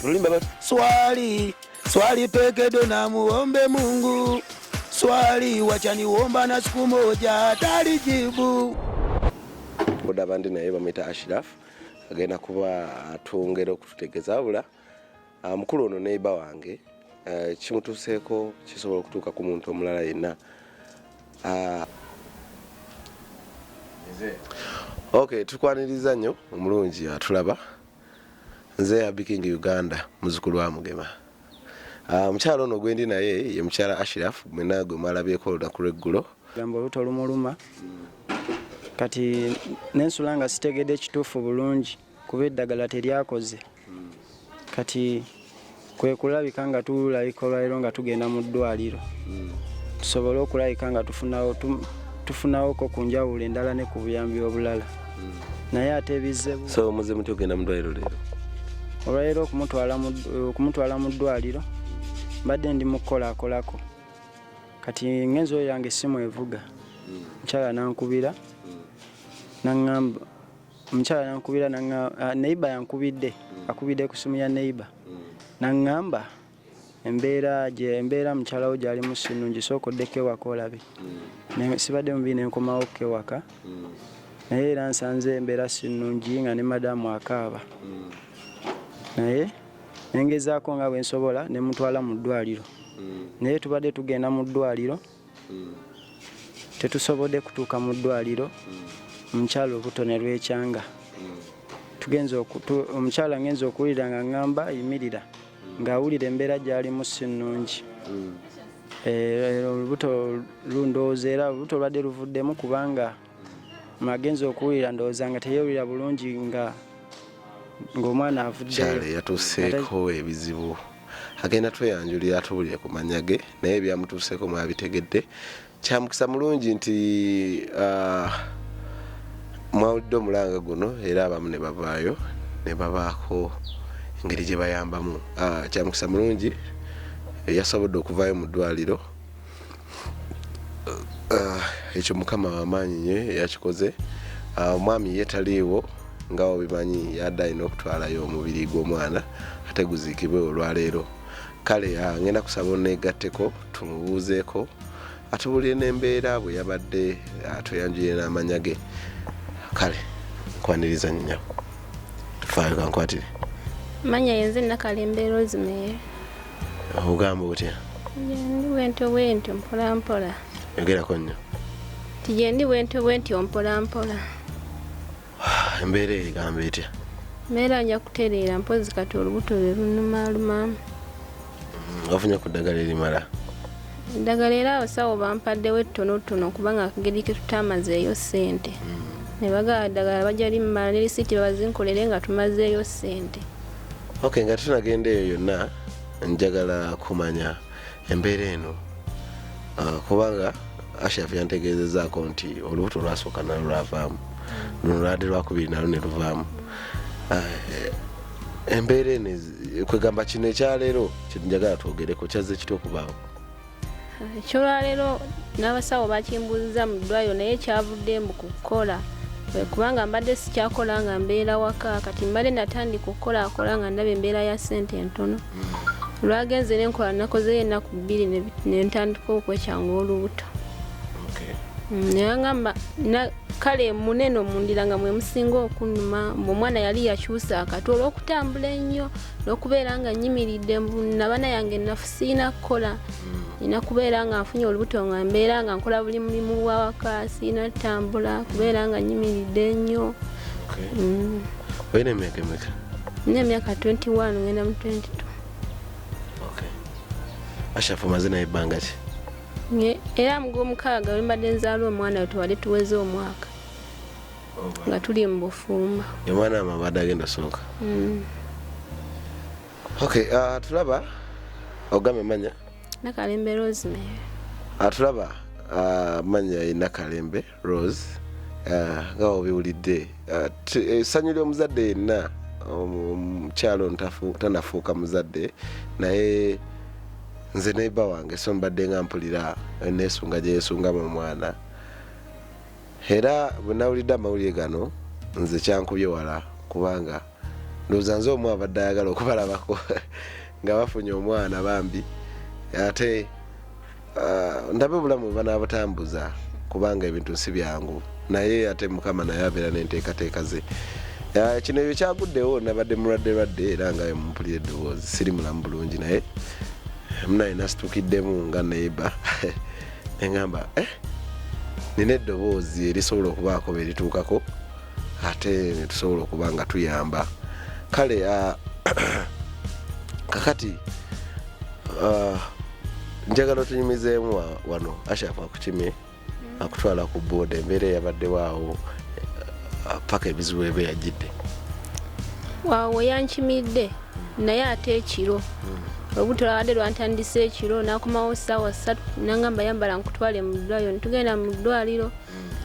Tulimba basi. Swali, swali peke do na muombe Mungu. Swali wacha niomba na siku moja atalijibu. Boda bandi naye bamwita Ashraf agenda kuba atwongera okututegeza abula ah, mukulu ono neiba wange eh, kimutuuseeko kisobola okutuuka ku muntu omulala yenna ah, ok tukwaniriza nnyo omulungi atulaba Nze Abi King Uganda muzukulu wa Mugema. Ah, mukyala ono gwendi naye ye mukyala Ashraf mwena gwe mwalabyeko olunaku lweggulo. Gamba oluta olumuluma kati nensula nga sitegedde ekituufu bulungi kuba eddagala teryakoze kati kwe kulabika nga tulabika olwaliro nga tugenda mu ddwaliro hmm. tusobole okulabika nga tufunawoko ku njawulo endala ne ku buyambi obulala hmm. naye ate bizebu so muze muti ogenda mu ddwaliro leero olwaliro okumutwala mu ddwaliro mbadde ndi mu kukolakolako kati ngenzi oyo yange essimu evuga hmm. mukyala nankubira naŋamba omukyala nankubira ah, neiba yankubidde mm. akubidde ku simu ya neiba mm. naŋŋamba embeera embeera mukyalawo gyali musinungi sooka oddeko ewaka olabe mm. sibadde mubi nenkomawo ko ewaka naye era nsanze embeera sinungi nga ne madamu akaaba naye nengezaako nga bwensobola nemutwala mu ddwaliro naye tubadde tugenda mu ddwaliro hmm. tetusobodde kutuuka mu ddwaliro hmm. omukyala obuto ne lwekyanga hmm. omukyala ngenza okuwulira nga ngamba yimirira ng'awulira embeera gyalimu si nnungi eh, olubuto lundowooza era olubuto lwadde luvuddemu kubanga magenzi okuwulira ndowooza nga teyewulira bulungi nga ng'omwana avuddeyo yatuuseeko ebizibu agenda tweyanjulira atubulire ku manya ge naye ebyamutuuseeko mwabitegedde kyamukisa mulungi nti ah, mwawulidde omulanga guno era abamu ne bavaayo ne babaako engeri gye bayambamu ah, kyamukisa mulungi yasobodde okuvaayo mu ddwaliro Ah, ekyo mukama wamaanyi nyo yakikoze ah, omwami ye taliiwo nga obimanyi yadde alina okutwalayo omubiri gw'omwana ate guziikibwe olwaleero kale ah, ngenda kusaba oneegatteko tumubuuzeeko atubulire n'embeera bwe yabadde atuyanjulire n'amanya ge kale nkwaniriza nyo faayo kankwatire manya yenze nakalembeera ozimeere ogamba otya gyendi bwentyo bwentyo mpolampola yogerako nnyo nti gyendi bwentyo bwentyo mpolampola embeera eyo egamba etya mbeera nja kutereera mpozi kati olubuto lwe lunumalumamu wafunye ku ddagala erimala eddagala era abasawo bampaddewo ettonotono kubanga akageri ke tutamazeeyo ssente ne bagala ddagala bajja limala ne lisiiti babazinkolere nga tumazeeyo ssente ok nga tunagenda eyo yonna njagala kumanya embeera eno ah, kubanga ashaf yantegeezezaako nti olubuto lwasooka nalo lwavaamu luno lwade lwakubiri nalo ne luvaamu ah, eh, embeera eno kwegamba kino ekyaleero kyenjagala twogereko kyazze kitya okubaawo ekyolwaleero n'abasawo bakimbuuziza mu ddwaliro naye kyavudde mbu ku kukola kubanga mbadde sikyakola nga mbeera waka kati mbadde natandika okukolakola nga ndaba embeera ya ssente entono mm. lwagenze nenkola nakozeyo ennaku bbiri nentandika okwekyanga olubuto mm, neyangamba kale munene omundira nga mwemusinga okunuma mbu omwana yali yakyusa akati olwokutambula ennyo n'okubeera nga nyimiridde nabana yange nafu sirina kukola nina mm. kubeera nga nfunye olubuto nga mbeera nga nkola buli mulimu wawaka sirina kutambula kubeera nga nyimiridde nnyo mm. olina emyaka emeka nina emyaka 21 ngenda mu 22 ashafu maze naye ebbanga ki era mugomukaaga wembadde nzaala omwana we tewali tuweze omwaka nga tuli mu bufumbo omwana ama abadde agenda sooka mm. okay uh, tulaba ogame manya nakalembe rose me uh, tulaba uh, manya ye nakalembe rose uh, nga uh, obiwulidde essanyu uh, ly'omuzadde yenna omukyalo um, um, tanafuuka muzadde naye nze neiba wange so mbadde nga mpulira nesunga gyeyesungamu omwana era bwe nawulidde amawulire gano nze kyankubye wala kubanga ndowooza nze omu abadde ayagala okubalabako nga bafunye omwana bambi ate ah, ndabe obulamu bwe banaabutambuza kubanga ebintu si byangu naye ate mukama naye abeera n'enteekateeka ze ah, kino ebyo kyaguddewo nabadde mulwadde lwadde era nga mumpulira eddoboozi siri mulamu bulungi naye mnaye nasitukiddemu nga neiba neŋamba eh, nina eddoboozi erisobola okubaako berituukako ate netusobola okuba nga tuyamba kale ah, kakati ah, njagala otunyumizeemu wano ashaf akukimye mm. akutwala ku booda embeera eyabaddewo awo eh, paka ebizibu ebe yajjidde wawo yankimidde wow, naye ate ekiro olubuto lwabadde lwantandise ekiro nakomawo saawa satu nangamba yambala nkutwale mu ddwaliro netugenda mu ddwaliro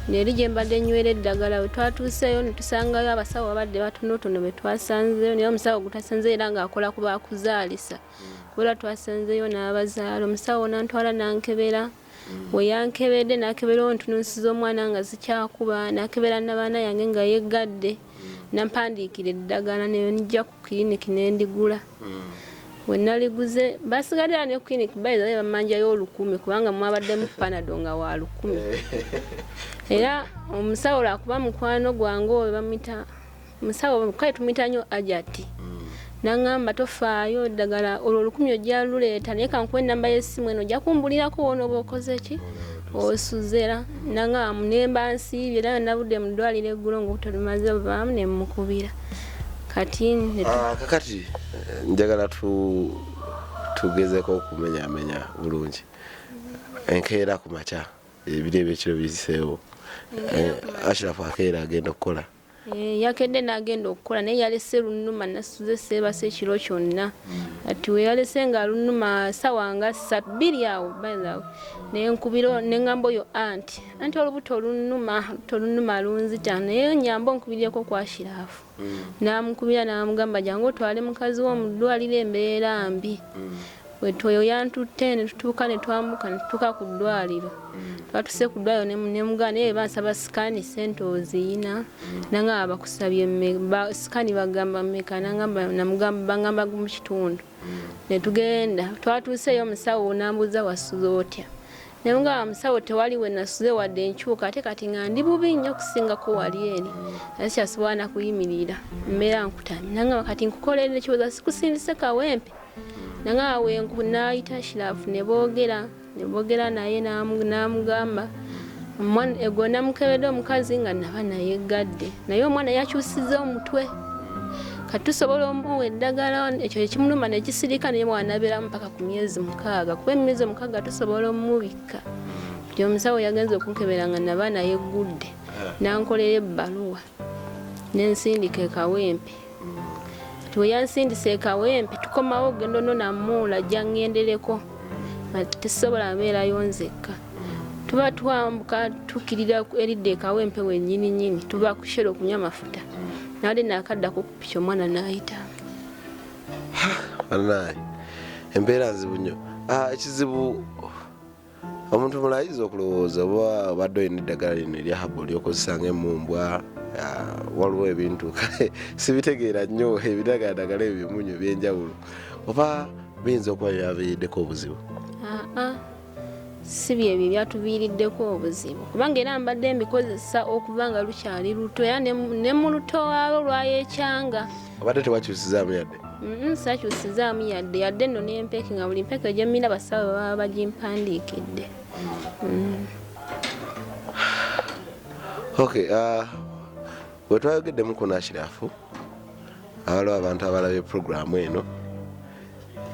neri gye mbadde nywera eddagala we twatuuseeyo netusangayo abasawo babadde batonotono be twasanzeyo naye omusawo gwetwasanzeyo era ng'akola ku bakuzaalisa kubera twasanzeyo n'abazaala omusawo nantwala nankebera we yankebedde nakebera ontununsiza omwana nga zikyakuba nakebera nabaana yange nga yeggadde nampandiikira eddagala nenijja ku kiriniki nendigula hmm. we naliguze basigalira ne kiriniki bayiza be bamanjayo olukumi kubanga mwabaddemu panado nga wa lukumi era omusawo lwakuba mukwano gwange oyo bamwita musawo kale tumuyita nyo ajati mm. nangamba tofaayo ddagala olwo olukumi ojja luleeta naye kankuwa enamba y'essimu eno ojja kumbulirako wona oba okoze ki osuzera nangamba munemba nsiibye era nabudde mu ddwaliro eggulo ngaobutalumaze buvaamu ne mukubira kati ah, kakati eh, njagala tugezeko okumenyamenya bulungi enkeera ku makya ebiri ebyekiro biziseewo eh, ashirafu akeera agenda okukola Eh, yakedde n'agenda okukola naye yalese lunuma nasuze seebasa ekiro kyonna ati weyalese nga lunuma sawa nga sabbiri awo bythaw nenkubiro neŋamba oyo anti anti olubuto olunuma luto olunuma lunzita naye nyamba onkubiryeko kwashiraafu mm. namukubira namugamba jangu otwale mukazi wo mu ddwaliro embeera mbi mm. Wettu oyo yantutte ne tutuuka ne twambuka ne tutuuka ku ddwaliro mm. twatuse ku ddwaliro ne mugana naye bansaba sikaani ssente oziyina mm. nangamba bakusabye sikaani bagamba mmeka nangamba namugamba bangamba mu kitundu mm. ne tugenda twatuuseeyo omusawo nambuuza wasuza otya ne mugamba musawo tewali we nasuze wadde enkyuka ate kati nga ndi bubi nnyo okusingako wali eri ate kyasobola nakuyimirira mbeera nkutamye nangamba kati nkukolerera ekiwoza sikusindise kawempe nange awo enku naayita shirafu ne boogera ne boogera naye n'amugamba egwo namukebedde omukazi nga naba naye gadde naye omwana yakyusiza omutwe kati tusobola omuwa eddagala ekyo ekimuluma nekisirika naye mwanabeeramu paka ku myezi mukaaga kuba emyezi omukaaga tusobola omumubikka nti omusawo yagenza okunkebera nga naba naye gudde eh. nankolera ebbaluwa nensindika ekawempe nti weyansindisa ekawempe tukomawo ogenda ono namuula ajja ngendereko nga tesobola abeerayo nzekka tuba twambuka tukirira eridda ekawempe wenyini nyini tuba kushera okunywa amafuta nali nakadda kukupiki omwana nayita banaye embeera nzibu nyo ah, ekizibu omuntu mulayiza okulowooza oba obadde olina eddagala lino erya habu lyokozesa nga emumbwa waliwo ebintu kale sibitegeera nnyo ebidagaladagala ebyo byemunyo ebyenjawulo oba biyinza okuba byaviiriddeko obuzibu si byebyo byatuviiriddeko obuzibu kubanga era mbadde mbikozesa okuba nga lukyali luto era ne mu luto waalo lwayekyanga obadde tewakyusizaamu yadde mm-hmm, sakyusizaamu yadde yadde nno n'empeke nga buli mpeke gyemmira basawo baba bagimpandiikidde mm. ok uh, wetwayogeddemu ku nakirafu awaliwo abantu abalabye puroguramu eno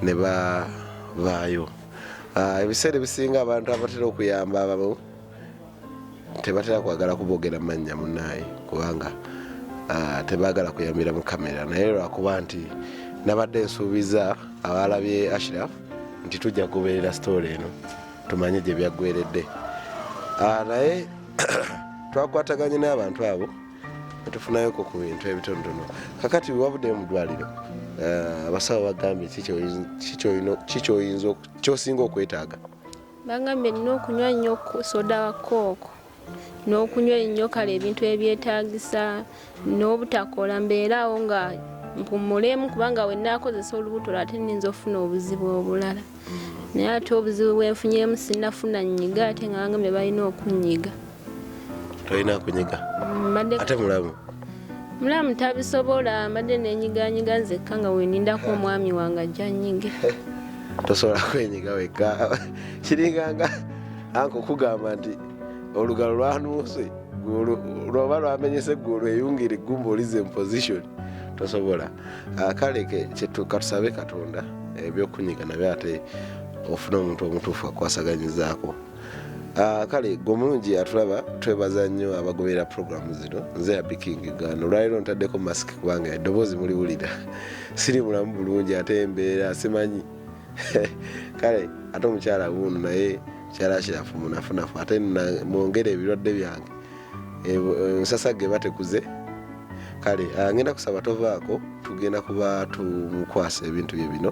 ne bavaayo uh, ebiseera ebisinga abantu abatera okuyamba abamu tebatera kwagala kubogera mannya munaye kubanga ah, tebagala kuyambira mu kamera naye lwakuba nti nabadde nsuubiza abaalabye ashraf nti tujja kugoberera sitoola eno tumanye gye byaggweredde ah, naye twakwataganye n'abantu abo netufunayoko ku bintu ebitonotono kakati wabudde mu ddwaliro ah, abasawo bagambye kikyoyinza kyosinga okwetaaga Bangambye nnina okunywa nnyo soda wa kooko n'okunywa ennyo kale ebintu ebyetaagisa n'obutakola mbeeraawo nga mpumulemu kubanga we naakozesa olubuto ate nninza okufuna obuzibu obulala naye ate obuzibu bwenfunyemu sinafuna nnyiga ate nga bangambye balina okunnyiga tolina kunyiga ate mulamu mulamu tabisobola mbadde nenyiganyiga nzekka nga wenindako omwami wange ajja nyige tosobola kwenyiga wekka kiringanga anka okugamba nti olugalo lwanuuse lwoba lwamenyese gulu eyungira eggumba olize muposition tosobola ah, kale katusabe katonda ebyokunyiga nabyo ate ofuna omuntu omutuufu akwasaganyizaako Ah, kale gwe omulungi atulaba twebaza nnyo abagoberera puroguramu zino nze yabikingi gano olwaliro ntaddeko masiki kubanga eddoboozi muliwulira siri mulamu bulungi ate embeera simanyi kale ate omukyala wuuno naye mukyala kirafu munafunafu ate mwongere ebirwadde byange eh, ensasa ge batekuze kale ah, ngenda kusaba tovaako tugenda kuba tumukwasa ebintu bye bino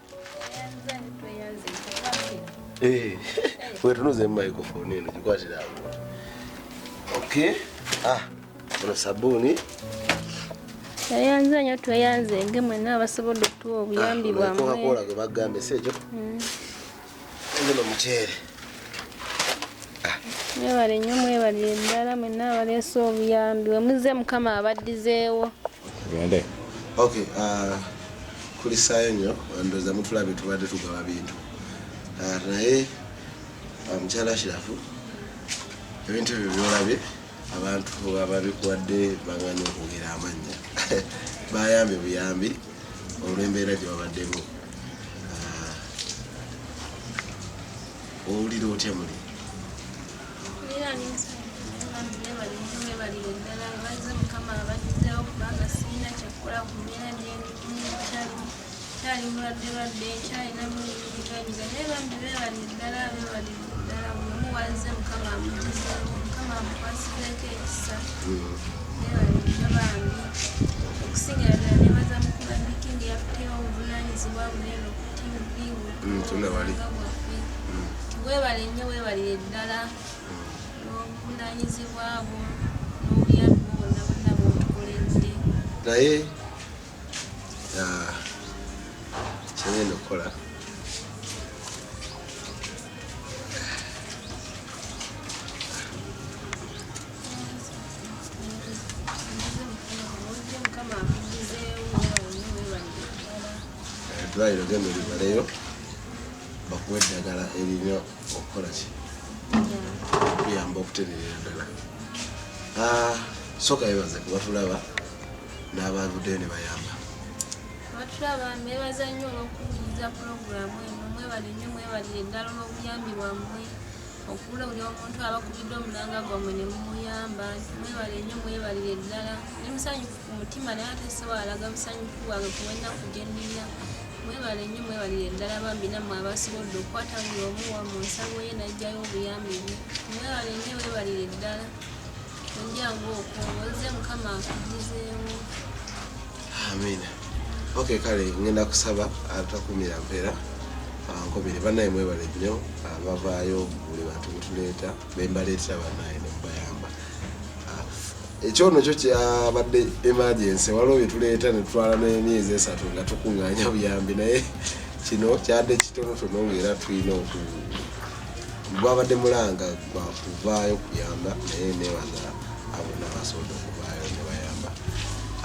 Eh, wetunuze microphone eno gikwatira awo. Okay. Ah, ono sabuni. Tweyanze nyo tweyanze nge mwenna abasobola okutuwa obuyambi ah, bwamwe. Kola gwe bagambe sejo. Mm. Ndono muchere. Ah. Mwebale nnyo mwebale endala mwenna abaleese obuyambi we muzze mukama abaddizeewo. Gende. Okay, uh, kulisaayo nnyo ndowooza mutulabye tubadde tugaba bintu ah, naye ah, mukyala shirafu ebintu ebyo byolabye abantu ababikuwadde baganye okwogera amannya bayambye buyambi olw'embeera gye babaddemu ah, owulira otya muli Thank you. kyali mulwadde lwadde kyalina mulinyiganyuga naye bambi bebali ddala bebali ddala bulamu wanze mukama amugizeemu mukama amukwasizeeko ekisa bebali nnyo bambi okusingira ddala nebaza mukuba mikingi yakuteewo obuvunanyizibwa bunene okutivi nga bwaffe webale nnyo webalire ddala n'obuvunanyizibwa bwo n'obuyambi bwonna bonna bwotukoledde naye Ah, kyengenda okukola eddwaliro genda olibaleyo bakuwa eddagala erina okukola ki okuyamba okutereera ddala Ah, sooka yebaze kubatulaba n'abaavuddeyo ne bayamba. Abatulaba mbeebaza nnyo olw'okuwuliriza pulogulaamu eno. Mwebale nnyo, mwebalire ddala olw'obuyambi bwammwe. Okubula buli omuntu abakubidde omulanga gwammwe ne mumuyamba. Mwebale nnyo, mwebalire ddala. Ndi musanyufu ku mutima naye ate siwalaga busanyufu bwange ku lw'ennaku gye nnina. Mwebale nnyo, mwebalire ddala bambi nammwe abasobodde okukwata buli omu wa mu nsawo ye n'aggyayo obuyambi bwe. Mwebale nnyo, weebalire ddala. amina ok kale ngenda kusaba atakumira mpeera nkobere banaye mwebale nnyo ah, bavaayo buli bantu betuleeta bembaleetera banaye nemubayamba ah, ekyono kyo kyabadde emergency waliwo byetuleeta netutwala nemyezi esatu nga tukunganya buyambi naye kino kyadde kitonotono ngaera tulina oku Gwabadde mulanga gwa kuvaayo kuyamba naye nebaza abo nabasobodde okuvaayo nebayamba.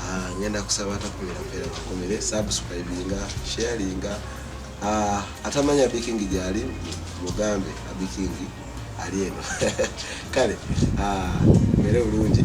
Ah, ngenda kusaba atakumira mpeera bakumire subscribinga sharinga ah, atamanya abikingi gyali mugambe abikingi ali eno kale ah, mere bulungi